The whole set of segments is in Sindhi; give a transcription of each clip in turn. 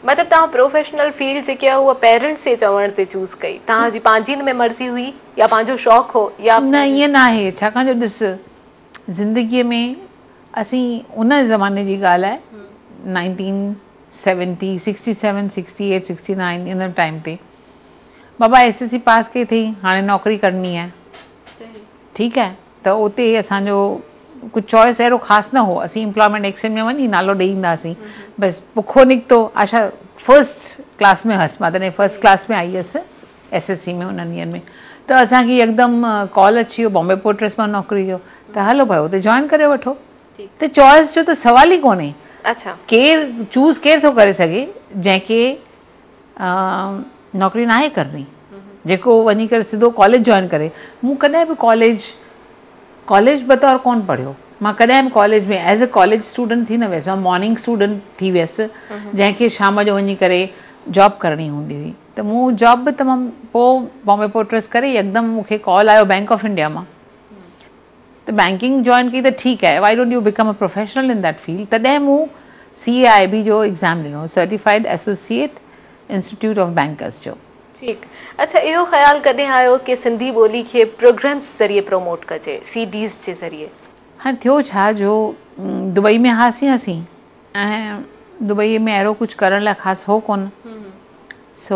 مطلب تان پروفيشنل فيلڊ جيڪي آهي اها پيرنٽس جي چوڻ تي چوز ڪئي تان جي پنهنجي ۾ مرضي هئي يا پنهنجو شوق هو يا نه ائين نه آهي ڇاڪاڻ جو ڏس زندگي ۾ اسين ان زماني جي ڳالهه آهي nineteen seventy, sixty seven, sixty eight, sixty nine ان ٽائيم تي بابا ايس ايس سي پاس ڪئي اٿئي هاڻي نوڪري ڪرڻي آهي ٺيڪ آهي ته اتي اسان جو ڪجهه چوائس اهڙو خاص نه هو اسين امپلائمينٽ ايڪسچينج ۾ وڃي نالو ڏئي ايندا هاسين بس پکو نڪتو آشا فرسٽ ڪلاس ۾ هيس ماتان فرسٽ ڪلاس ۾ آئي هيس ايس ايس سي ۾ انهن ڏينهن ۾ ته اسان کي يڪدم ڪال اچي ويو بامبي پورٽرس مان نوڪري جو ته هلو ڀاء اتي جوائن ڪري وٺو ته چوائس جو ته سوال ئي ڪونهي. اڇا. ڪير چوز ڪير ٿو ڪري سگهي جنهن کي نوڪري ناهي ڪرڻي جيڪو وڃي ڪري سڌو ڪاليج جوائن ڪري مون ڪڏهن به ڪاليج ڪاليج بطور ڪون پڙهيو مان ڪڏهن به college ۾ as a college student ٿي نه ويس مان مارننگ اسٽوڊنٽ ٿي ويس جنهن کي شام جو وڃي ڪري جاب ڪرڻي هوندي هئي ته مون جاب به تمام پوء بامبي پورٽرس ڪري يڪدم مون کي ڪال آيو بينڪ آف انڊيا مان ته بئنڪنگ جوائن ڪئي ته ٺيڪ آهي why don't you become a professional in that field تڏهن مون سي اي آئي بي جو ايگزام ڏنو certified associate institute of bankers جو. ٺيڪ اڇا اهو خيال ڪڏهن آيو ڪي سنڌي ٻولي کي پروگرمز ذريعي پروموٽ ڪجي سي ڊيز جي ذريعي. هاڻي ٿيو ڇا جو دبئي ۾ هئاسين اسين ۽ دبئيء ۾ اهڙو ڪجهه ڪرڻ لاء خاص هو ڪونه. سو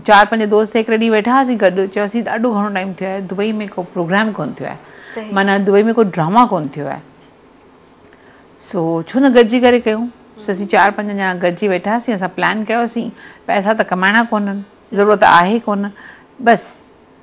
چار پنج دوست هڪڙي ڏينهن ويٺا هئاسين گڏ، چيوسين ڏاڍو گهڻو ٽائيم ٿيو آهي، دبئيء ۾ ڪو پروگرام ڪونه ٿيو آهي. معنيٰ دبئيء ۾ ڪو ڊراما ڪونه ٿيو آهي. سو ڇو نه گڏجي ڪري ڪيون. سو اسين چار پنج ڄڻا گڏجي ويٺا هئاسين، اسان پلان ڪيوسين، پئسا ته ڪمائڻا ڪونهن، ضرورت آهي ڪونه، بس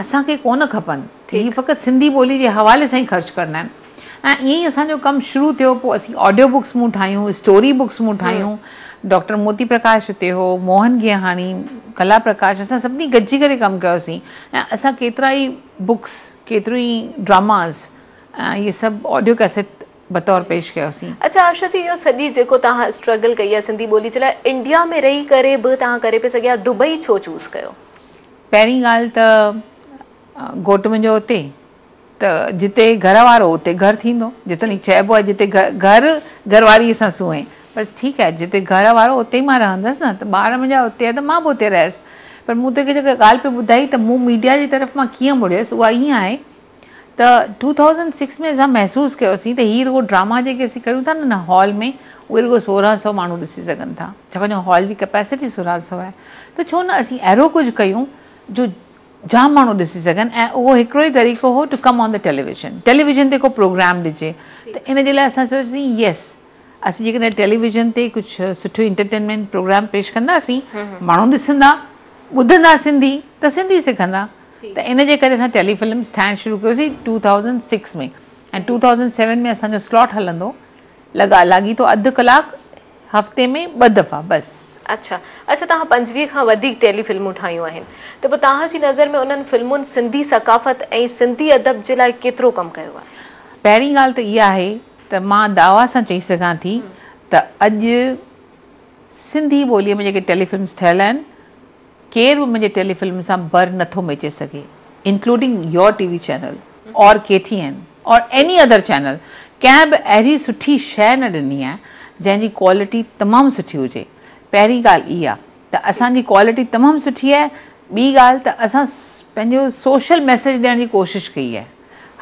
اسان کي ڪونه کپن، هي فقط سنڌي ٻولي جي حوالي سان ئي خرچ ڪرڻا آهن. ۽ ائين ئي اسان جو ڪم شروع ٿيو، پوء اسين آڊيو بڪس مون ٺاهيون، اسٽوري بڪس مون ٺاهيون، ڊاڪٽر موتي پرڪاش اتي هو، موهن گيهاڻي، ڪلا پرڪاش، اسان سڀني گڏجي ڪري ڪم ڪيوسين ۽ اسان ڪيترا ئي بڪس، ڪيتريون ئي ڊراماز ۽ اهي سڀ آڊيو ڪيسٽ بطور پيش ڪيوسين. اڇا آشا جي اهو سڄي جيڪو توهان اسٽرگل ڪئي آهي سنڌي ٻولي جي لاء، انڊيا ۾ رهي ڪري به توهان ڪري پئي سگهيا، دبئي ڇو چوز ڪيو؟ پهرين ڳالهه ته گهوٽ منهنجو اتي ته جتي گهر وارو اتي گهر ٿيندو جيتوڻيڪ چئبو آهي جتي گهر گهر واري سان سونهين پر ٺيڪ آهي جتي گهر وارو اتي ئي مان رهندس نه ته ٻار منهنجا اتي آهي ته مان به اتي رهيس پر مون توکي جيڪا ڳالهه پئي ٻڌائي ته مون ميڊيا جي طرف مان ڪيئن مڙيس اها ائين آهي ته ٽو ٿائوزنڊ سڪس ۾ اسان محسوس ڪيوسين ته هي رڳو ڊراما جيڪي اسين ڪريون ٿا نه هال ۾ اهي رڳو سورهن سئو ماڻهو ڏسي سگهن ٿا ڇاڪاڻ جو هال جي ڪئپيسٽي سورهن سئو آهي ته ڇو نه اسين اهڙو ڪجهه ڪيون جو جام ماڻهو ڏسي سگهن ۽ اهو هڪڙو ئي طريقو هو to come on the television television تي ڪو پروگرام ڏجي ته ان جي لاء اسان سوچيوسين يس اسين جيڪڏهن ٽيليويزن تي ڪجهه سٺو انٽرٽينمينٽ پروگرام پيش ڪنداسين ماڻهو ڏسندا ٻڌندا سنڌي ته سنڌي سکندا ته ان جي ڪري اسان ٽيلي فلمز ٺاهڻ شروع ڪيوسين two thousand six ۾ ۽ two thousand seven ۾ اسان جو سلاٽ هلندو لڳا لاڳيتو اڌ ڪلاڪ هفتي ۾ ٻه دفعا بس. اڇا اڇا توهان پنجويهه کان وڌيڪ ٽيلي فلمون ٺاهيون آهن ته پوء توهان جي نظر ۾ انهن فلمن سنڌي ثقافت ۽ سنڌي ادب جي لاء ڪيترو ڪم ڪيو آهي؟ پهرين ڳالهه ته اها آهي ته مان دعويٰ سان چئي سگهان ٿي ته اڄ سنڌي ٻوليء ۾ جيڪي ٽيلي فلمز ٺهيل آهن، ڪير به منهنجي ٽيلي فلم سان بر نه ٿو ميچي سگهي including your T V channel or K T N or any other channel ڪنهن به اهڙي سٺي شيء نه ڏني آهي جنهن جي ڪوالٽي تمام سٺي هجي پهرين ڳالهه اها ته اسان جي ڪوالٽي تمام سٺي آهي ٻي ڳالهه ته اسان پنهنجو سوشل ميسيج ڏيڻ جي ڪوشش ڪئي آهي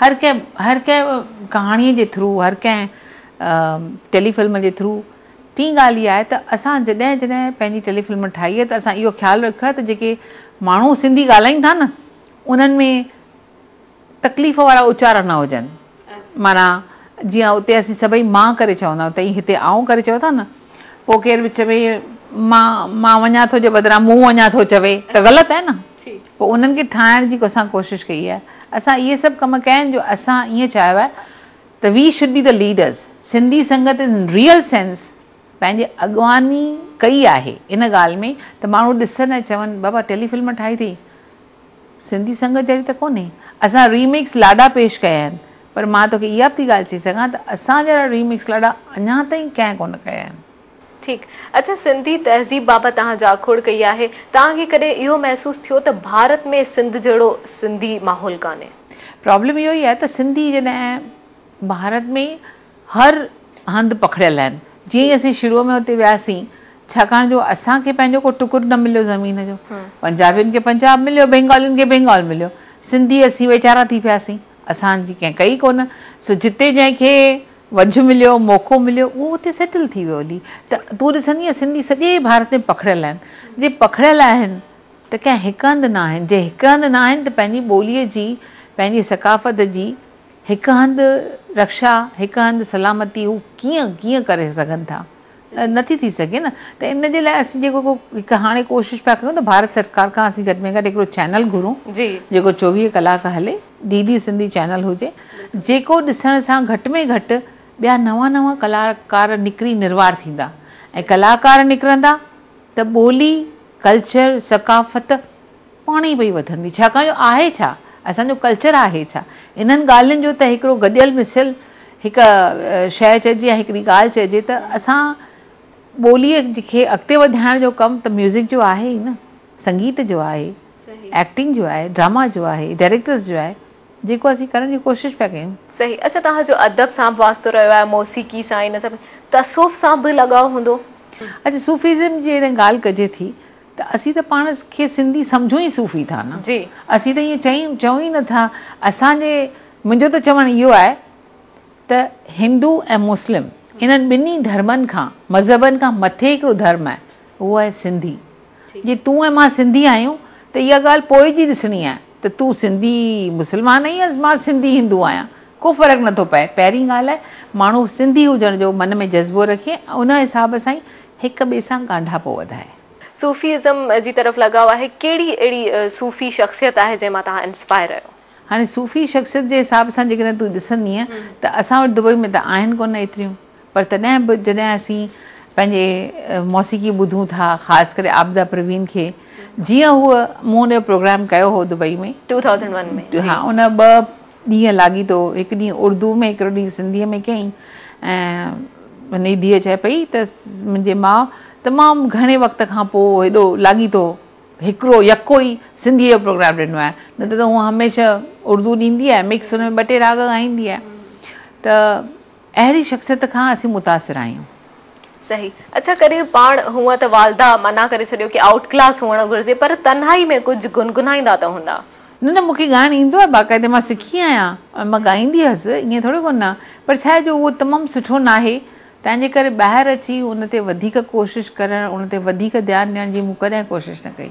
هر ڪنهن هر ڪنهن ڪهاڻي جي ٿرو هر ڪنهن ٽيلي فلم جي ٿرو ٽين ڳالهه اها آهي ته اسان جڏهن جڏهن پنهنجي ٽيلي فلم ٺاهي آهي ته اسان اهو خيال رکيو آهي ته جيڪي ماڻهو سنڌي ڳالهائين ٿا نه انهن ۾ تڪليف وارا اچارا نه هجن معنيٰ جيئن اتي اسين سڀئي مان ڪري چوندا آهيون تئين هتي آئون ڪري چئو ٿا نه پوء ڪير وچ ۾ مان مان وڃان ٿو جي بدران مون وڃان ٿو چوي ته غلط آهي نه پوء انهن کي ٺاهڻ جي اسان ڪوشش ڪئي آهي اسان اهي سڀ ڪم ڪيا آهن جو اسان ائين چاهيو آهي ته وي شوڊ بي ته leaders, Sindhi Sangat in real sense پنهنجي اڳواڻي ڪئي آهي ان ڳالهه ۾ ته ماڻهو ڏسن ۽ چون بابا ٽيلي فلم ٺاهي اٿئي سنڌي سنگت جهڙي ته ڪونهي اسان ريميڪس لاڏا پيش ڪيا آهن پر مان توکي اها به ٿي ڳالهه چئي سگهان ته اسان جهڙا ريميڪس لاڏا اڃا تائين ڪنهن ڪونه ڪيا آهن. ٺيڪ. اچا سنڌي تهذيب بابت توهان جاکوڙ ڪئي آهي. توهان کي ڪڏهن اهو محسوس ٿيو ته ڀارت ۾ سنڌ جهڙو سنڌي ماحول ڪانهي؟ پرابلم اهو ئي آهي ته سنڌي جڏهن ڀارت ۾ هر هنڌ پکڙيل آهن. جيئن ئي اسين شروع ۾ اتي وياسين ڇاڪاڻ جو اسان کي پنهنجو ڪو ٽڪر نه مليو زمين جو. پنجابين کي پنجاب مليو، بينگالين کي بينگال مليو. سنڌي اسين ويچارا ٿي پياسين. اسان جي ڪنهن ڪئي ڪونه سو جتي جنهن کي وجهه مليو موقعو مليو اهو اتي سيٽل ٿي ويو هلي ته تون ڏسندينء سنڌي سڄي ڀارت ۾ پکڙيل آهن جي پکڙيل آهن ته ڪنهن هڪ هنڌ نه آهن جي هڪ هنڌ نه آهن ته پنهنجي ٻوليء جي پنهنجي ثقافت جي هڪ هنڌ رڪشا هڪ هنڌ سلامتي هو ڪيئن ڪيئن ڪري سگهن ٿا. نٿي ٿي سگهي نه ته ان جي لاء اسين جيڪو ڪو هڪ هاڻي ڪوشش پيا ڪريون ته ڀارت سرڪار کان اسين گهٽ ۾ گهٽ هڪڙو چينل گهرون جيڪو چوويهه ڪلاڪ هلي ڊي ڊي سنڌي چينل هجي جيڪو ڏسڻ سان گهٽ ۾ گهٽ ٻيا نوان نوان ڪلاڪار نڪري نروار ٿيندا ۽ ڪلاڪار نڪرندا ته ٻولي ڪلچر ثقافت پاڻ ئي پئي وڌندي ڇاڪاڻ جو آهي ڇا اسان جو ڪلچر آهي ڇا انهن ڳالهين جو ته هڪڙو گڏيل مصيل هڪ شيء چئجي يا هڪڙي ڳالهه چئجي ته اسان ٻوليء کي اڳتي وڌائڻ جو ڪم ته ميوزڪ جو آهي ئي نه سنگيت جو آهي ايڪٽنگ جو آهي ڊراما جو آهي ڊائريڪٽرز جو آهي جيڪو اسين ڪرڻ جي ڪوشش پيا ڪيون. صحيح اڇا توهان جو ادب سان به واسطو رهيو آهي موسيقي سان ان سان تصوف سان به لڳاء هوندو. اچ صوفيزم جي جڏهن ڳالهه ڪجي ٿي ته اسين ته پاڻ کي سنڌي سمجهون ئي صوفي ٿا نه اسين ته ائين چئون چئون ئي نه ٿا اسان جي منهنجو ته چوڻ اهو آهي ته هندو ۽ مسلم انهن ٻنهي ڌرمن کان مذهبن کان مٿي هڪڙو ڌرم آهي اهو آهي سنڌي جي تون ۽ مان سنڌي آهيون ته اها ڳالهه پوء جي ڏسڻي آهي ته تون سنڌي مسلمان آهين يا مان سنڌي هندو آهيان ڪو فرق نه ٿو پئي پهرين ڳالهه آهي ماڻهو سنڌي هجڻ جو من ۾ جذبو رکي ۽ ان حساب سان ئي هڪ ٻئي سان ڳانڍاپو وڌائي. صوفي ازم جي طرف لڳاء آهي، ڪهڙي اهڙي صوفي شخصيت آهي جنهن مان توهان انسپائر آهيو؟ هاڻي صوفي شخصيت جي حساب سان جيڪڏهن تون ڏسندينء ته اسان وٽ دبئي ۾ ته آهن ڪونه ايتريون پر تڏهن به جڏهن اسين پنهنجي موسيقي ٻڌون ٿا خاص ڪري عابده پروين کي جيئن هوء مون ان جو پروگرام ڪيو هو دبئي ۾ ٽو ٿائوزنڊ ون ۾ ها ان ٻه ڏينهن لاڳيتو هڪ ڏينهن اردوء ۾ هڪڙو ڏينهن سنڌيء ۾ ڪيائين ۽ منهنجي ڌيء چئي پئي ته منهنجي ماء تمام گهڻي وقت کان پوء هيڏو لاڳيتو هڪڙو يڪو ئي سنڌيء جو پروگرام ڏنو آهي نه ته هوء هميشه اردو ڏيندي آهي مڪس هن ۾ ٻه ٽي راڳ ڳائيندي آهي ته اهڙي شخصيت کان اسين متاثر آهيون. صحيح اڇا ڪري پاڻ هونء ته والده منع ڪري ڇڏيو ڪي آئوٽ ڪلاس هئڻ گهرجي پر تنهائي ۾ ڪجهه گنگنائيندا ته هوندا. نه نه مونکي ڳائڻ ايندو آهي باقاعدي مان سکي آهيان ۽ مان ڳائيندي هيس ائين ٿوري ڪو نه پر ڇا آهي جو اهو تمام سٺو ناهي تنهنجي ڪري ٻاهر اچي ان تي وڌيڪ ڪوشش ڪرڻ ان تي وڌيڪ ڌيان ڏيڻ جي مون ڪڏهن ڪوشش نه ڪئي.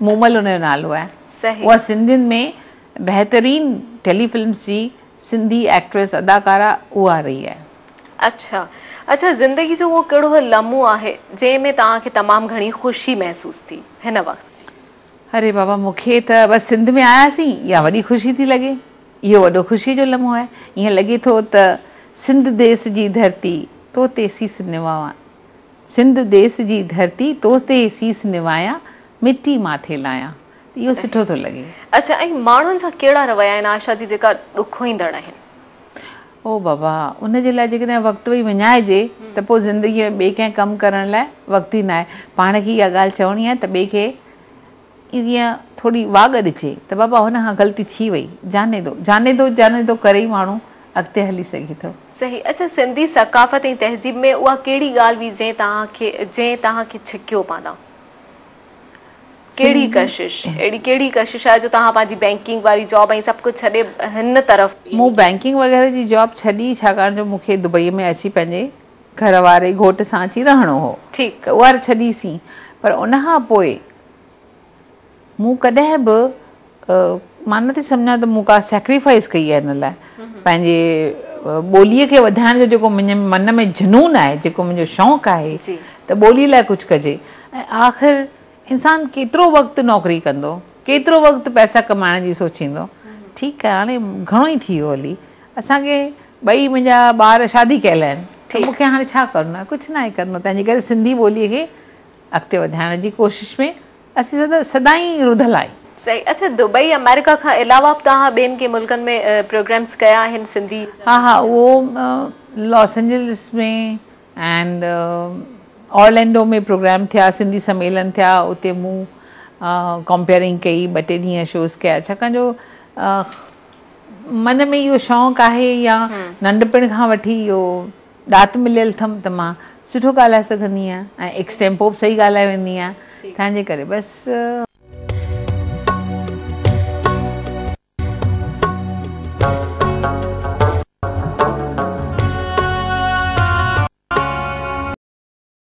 مومل ان جو نالو آهي. اها سنڌين ۾ بهترين ٽيلي فلمس جي سنڌي ايڪٽريس، اداڪارا، اها رهي آهي. اڇا اڇا زندگي جو اهو ڪهڙو لمحو آهي جنهن ۾ توهان کي تمام گهڻي خوشي محسوس ٿي هن وقت؟ اري بابا مون کي ته بس سنڌ ۾ آيا سين اها وڏي خوشي ٿي لڳي اهو وڏو خوشي جو لمحو آهي ائين لڳي ٿو ته سنڌ ديس جي ڌرتي تو تي سيس نواوان. سنڌ ديس جي ڌرتي تو تي سيس نوايان مٽي ماٿي لايان ته اهو سٺو ٿو لڳي. اڇا ۽ ماڻهن جا ڪهڙا رويا آهن عائشه جي جيڪا ڏکوئيندڙ آهن. او بابا ان جي لاء جيڪڏهن وقت وئي وڃائجي ته پوء زندگي ۾ ٻئي ڪنهن ڪم ڪرڻ لاء وقت ئي ناهي پاڻ کي اها ڳالهه چوڻي آهي ته ٻئي کي ائين ٿوري واڳ ڏجي ته بابا هن کان غلطي ٿي وئي جاني دو جاني دو جاني دو ڪري ئي ماڻهو اڳتي هلي سگهي ٿو. صحيح اچا سنڌي ثقافت ۽ تهذيب ۾ اها ڪهڙي ڳالهه هئي جنهن توهان کي جنهن توهان کي ڇڪيو پاندان ڪهڙي ڪشش اهڙي ڪهڙي ڪشش آهي جو توهان پنهنجي بينڪنگ واري جاب ۽ سڀ ڪجهه ڇڏي هن طرف مون بينڪنگ وغيره جي جاب ڇڏي ڇاڪاڻ جو مون کي دبئي ۾ اچي پنهنجي گهر واري گهوٽ سان اچي رهڻو هو ته اهر ڇڏي سين پر ان کان پوء مون ڪڏهن به مان نٿي سمجهان ته مون ڪا سيڪريفائيس ڪئي آهي ان لاء پنهنجي ٻولي کي وڌائڻ جو جيڪو منهنجي من ۾ جنون آهي جيڪو منهنجو شوق آهي ته ٻولي لاء ڪجهه ڪجي ۽ آخر انسان ڪيترو وقت نوڪري ڪندو ڪيترو وقت پئسا ڪمائڻ جي سوچيندو ٺيڪ آهي هاڻي گهڻو ئي ٿي ويو علي اسان کي ٻئي منهنجا ٻار شادي ڪيل آهن ته مون کي هاڻي ڇا ڪرڻو آهي ڪجهه ناهي ڪرڻو تنهنجي ڪري سنڌي ٻولي کي اڳتي وڌائڻ جي ڪوشش ۾ اسين سدائين رڌل آهيون. صحيح اڇا دبئي آمريڪا کان علاوه به توهان ٻين ڪي ملڪن ۾ پروگرامس ڪيا آهن سنڌي. ها ها اهو Los Angeles ۾ and Orlando ۾ programme ٿيا سنڌي سميلن ٿيا اتي مون ڪمپيئرنگ ڪئي ٻه ٽي ڏينهن شوز ڪيا ڇاڪاڻ جو من ۾ اهو شونق آهي يا ننڍپڻ کان وٺي اهو ڏات مليل اٿم ته مان سٺو ڳالهائي سگهندي آهيان ۽ ايڪسٽيمپو به صحيح ڳالهائي ويندي آهيان تنهنجي ڪري بس.